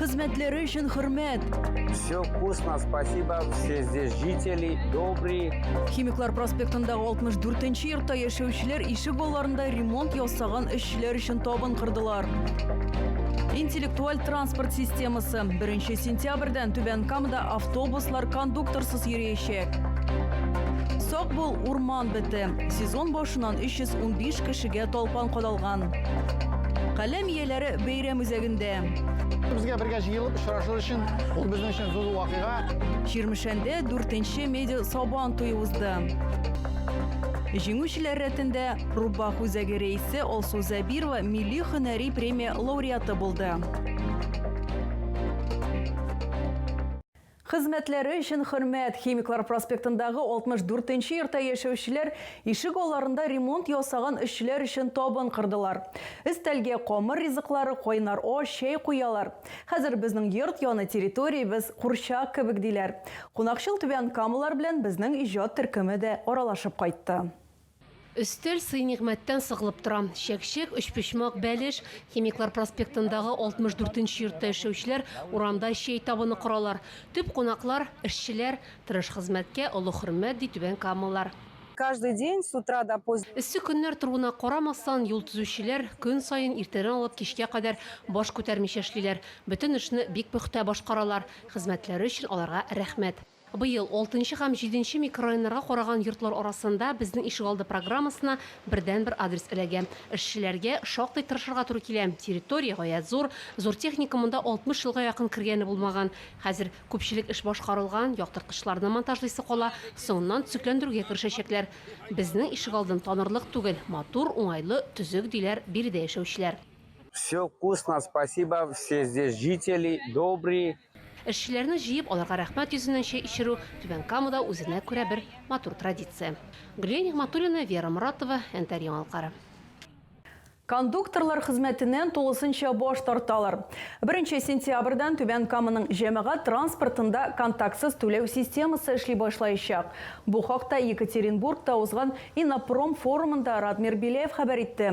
Хезмәтләре өчен хөрмәт. Все вкусно, спасибо. Все здесь жители, добрые. Химиклар проспектындагы 64-нче йортта яшәүчеләр ишек алларында ремонт ясаган эшчеләр өчен табын кырдылар. Интеллектуаль транспорт системасы. 1 сентябрьдән Түбән Камада автобуслар кондукторсыз йөриячәк. Сак бул, урман! Бете. Сезон башыннан 315 кешегә талпан кадалган. Каләм ияләре бәйрәм үзәгендә. Безгә бергә җыелып очрашу өчен ул безнең өчен зур вакыйга. Чирмешәндә 4-нче медиа сабан туе узды. Җиңүчеләр рәтендә Рубах үзәге рәисе Алсу Зәбирова милли һөнәри премия лауреаты булды. Хезмәтләре өчен хөрмәт, Химиклар проспектындагы 64 нче йортта яшәүчеләр ишек алларында ремонт ясаган эшчеләр өчен табын кырдылар. Өстәлгә камыр ризыклары, кайнар аш, чәй куялар. Хәзер безнең йорт яны территориябез курчак кебек, диләр. Кунакчыл түбән камалар белән безнең иҗат төркеме дә аралашып кайтты. Өстәл сый-нигъмәттән сыгылып тора. Чәкчәк, өчпочмак, бәлеш. Химиклар проспектындагы 64 нче йортта эшләүчеләр урамда чәй табыны коралар. Төп кунаклар, эшчеләр. Тырыш хезмәткә олы хөрмәт, ди түбәнкамалылар. Каждый день с утра до поз. Эссе көннәр торуына карамастан, юл төзүчеләр көн саен иртәдән алып кичкә кадәр баш күтәрмичә эшлиләр. Бөтен эшне бик пөхтә башкаралар. Хезмәтләре өчен аларга рәхмәт. Быел алтынчы һәм җиденче микрорайоннарга караган йортлар арасында Безнең ишегалды программасына бердәнбер адрес эләгә. Эшчеләргә шактый тырышырга туры килә. Территория гаять зур. Зур техника монда 60 елга якын кергәне булмаган. Хәзер күпчелек эш башкарылган, яктырткычларны монтажлыйсы кала, соңыннан төзекләндерүгә керешәчәкләр. Безнең ишегалдын танырлык түгел, матур, уңайлы, төзек, диләр биредә яшәүчеләр. Все вкусно, спасибо, все здесь жители добрые, Эшчеләрне җыеп, аларга рәхмәт йөзеннән чәй эчерү Түбән Камада үзенә күрә бер матур традиция. Гөлия Нигъмәтуллина, Вера Моратова, Әнтәр яңалыклары. Кондукторлар хезмәтеннән тулысынча баш тарталар. Беренче сентябрьдән Түбән Каманың җәмәгать транспортында контактсыз түләү системасы эшли башлаячак. Бу хакта Екатеринбургта узган Иннопром форумында Радмир Беляев хәбәр итте.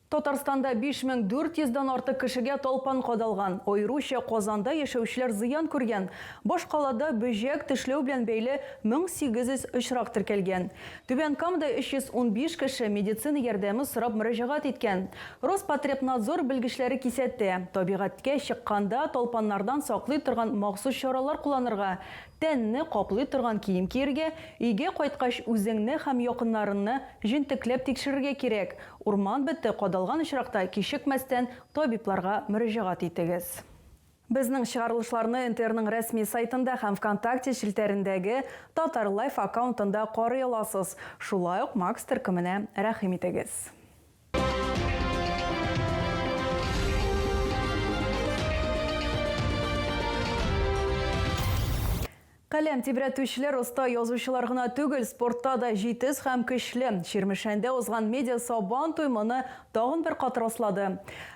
Татарстанда 5400 дан артык кешегә талпан кадалган, аеруча Казанда яшәүчеләр зыян күргән. Башкалада бөҗәк тешләү белән бәйле 1800 очрак теркәлгән. Түбән Камада 315 кеше медицина ярдәме сорап мөрәҗәгать иткән. Роспотребнадзор белгечләре кисәтә, табигатькә чыкканда талпаннардан саклый торган махсус чаралар кулланырга, Тәнне каплый торган кием киергә, өйгә кайткач үзеңне һәм якыннарынны җентекләп тикшерергә кирәк. Урман бете кадалган очракта кичекмәстән табибларга мөрәҗәгать итегез. Безнең чыгарылышларны НТРның рәсми сайтында һәм Вконтакте челтәрендәге Татар лайф аккаунтында карый аласыз. Шулай ук Макс төркеменә рәхим итегез. Каләм тибрәтүчеләр оста язучылар гына түгел, спортта да җитез һәм көчле. Чирмешәндә узган медиа сабан туй моны тагын бер кат раслады.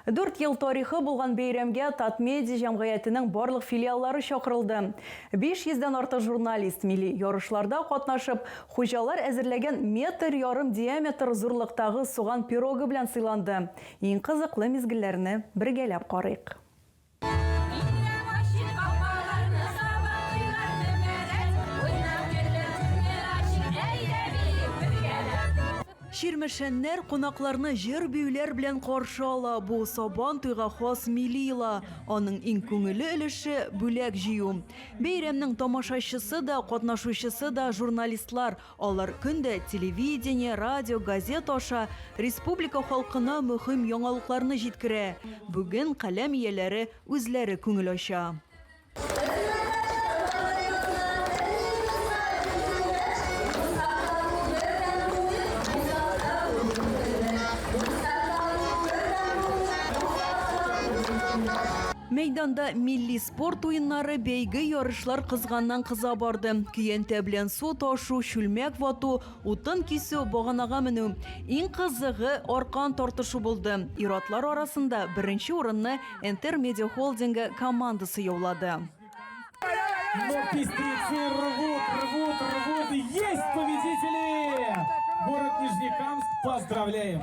Дүрт ел тарихы булган бәйрәмгә Татмедиа җәмгыятенең барлык филиаллары чакырылды. 500 дән артык журналист милли ярышларда катнашып, Хуҗалар әзерләгән метр ярым диаметр зурлыктагы суган пирогы белән сыйланды. Иң кызыклы мизгелләрне бергәләп карыйк. Чирмешәннәр кунакларны җыр-биюләр белән каршы ала, бу Сабан туйга хас милли йола, аның иң күңелле өлеше, бүләк җыю. Бәйрәмнең тамашачысы да, катнашучысы да, журналистлар. Алар көн дә телевидение, радио, газет аша республика халкына мөһим яңалыкларны җиткерә. Бүген каләм ияләре үзләре күңел ача. Мәйданда милли Спорт уеннары, бәйге, ярышлар кызганнан-кыза барды. Көянтә белән су ташу, чүлмәк вату, утын кисү, баганага менү, иң кызыгы, аркан тартышу булды. Ир-атлар арасында беренче урынны Энтер Медиа Холдингы командасы яулады. Но пестрецы рвут, рвут, рвут. Есть победители! Город Нижнекамск, поздравляем!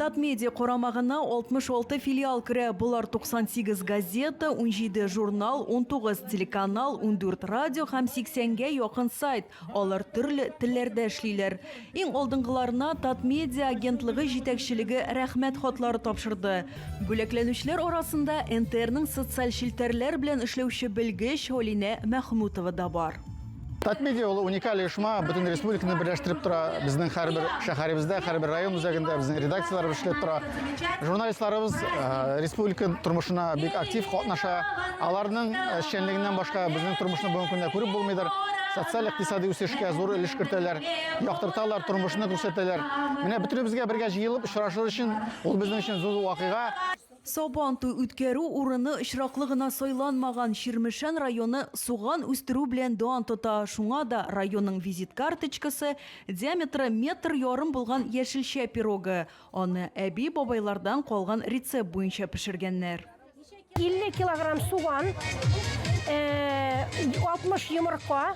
Татмедиа карамагына 66 филиал керә, болар 98 газета, 17 журнал, 19 телеканал, 14 радио һәм 80 гә якын сайт. Алар төрле телләрдә эшлиләр. Иң алдынгыларына Татмедиа агентлыгы җитәкчелеге рәхмәт хатлары тапшырды. Бүләкләнүчеләр арасында НТРның социаль челтәрләр белән эшләүче белгеч Алинә Мәхмүтова да бар. Татмедиа ул уникаль оешма, бөтен республиканы берләштереп тора. Безнең һәрбер шәһәребездә, һәрбер район үзәгендә безнең редакцияләребез эшләп тора. Журналистларыбыз э, республика тормышына бик актив катнаша. Аларның э, эшчәнлегеннән башка безнең тормышны бүгенге көндә күреп булмыйдыр. Социаль икътисади үсешкә зур өлеш кертәләр, яктырталар, тормышны күрсәтәләр. Менә бөтенебезгә бергә җыелып очрашыр өчен ул безнең өчен зур вакыйга. Сабан туй үткәрү урыны очраклы гына сайланмаган, Чирмешән районы суган үстерү белән дан тота, шуңа да районның визит карточкасы, диаметры метр ярым булган яшелчә пирогы, аны әби-бабайлардан калган рецепт буенча пешергәннәр. 50 килограмм суган, 60 йомырка.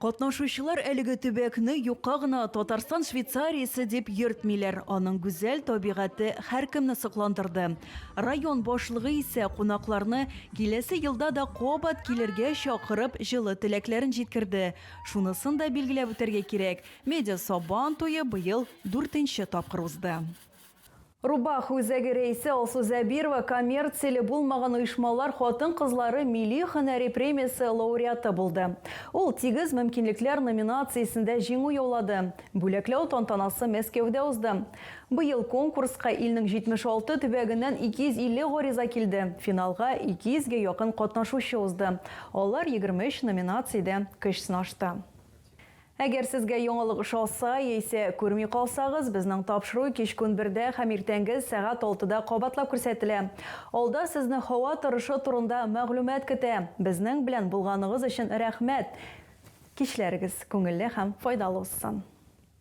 Катнашучылар әлеге төбәкне юкка гына Татарстан Швейцариясе дип йөртмиләр, аның гүзәл табигате һәркемне сокландырды. Район башлыгы исә кунакларны киләсе елда да кабат килергә чакырып, җылы теләкләрен җиткерде. Шунысын да билгеләп үтәргә кирәк, Медиа-Сабан туе быел дүртенче тапкыр узды. Рубах үзәге рәисе Алсу Зәбирова коммерцияле булмаган оешмалар хатын-кызлары милли һөнәри премиясе лауреаты булды. Ул Тигез мөмкинлекләр номинациясендә җиңү яулады. Бүләкләү тантанасы Мәскәүдә узды. Быел конкурска илнең 76 төбәгеннән 250 гариза килде, финалга 200 гә якын катнашучы узды, алар 23 номинациядә көч сынашты. Әгәр сезгә яңалык ошаса, яисә күрми калсагыз, безнең тапшыру кичкүн бердә һәм иртәнге сәгать алтыда кабатлап күрсәтелә. Алда сезне һава торышы турында мәгълүмат көтә. Безнең белән булганыгыз өчен рәхмәт! Кичләрегез күңелле һәм файдалы узсын!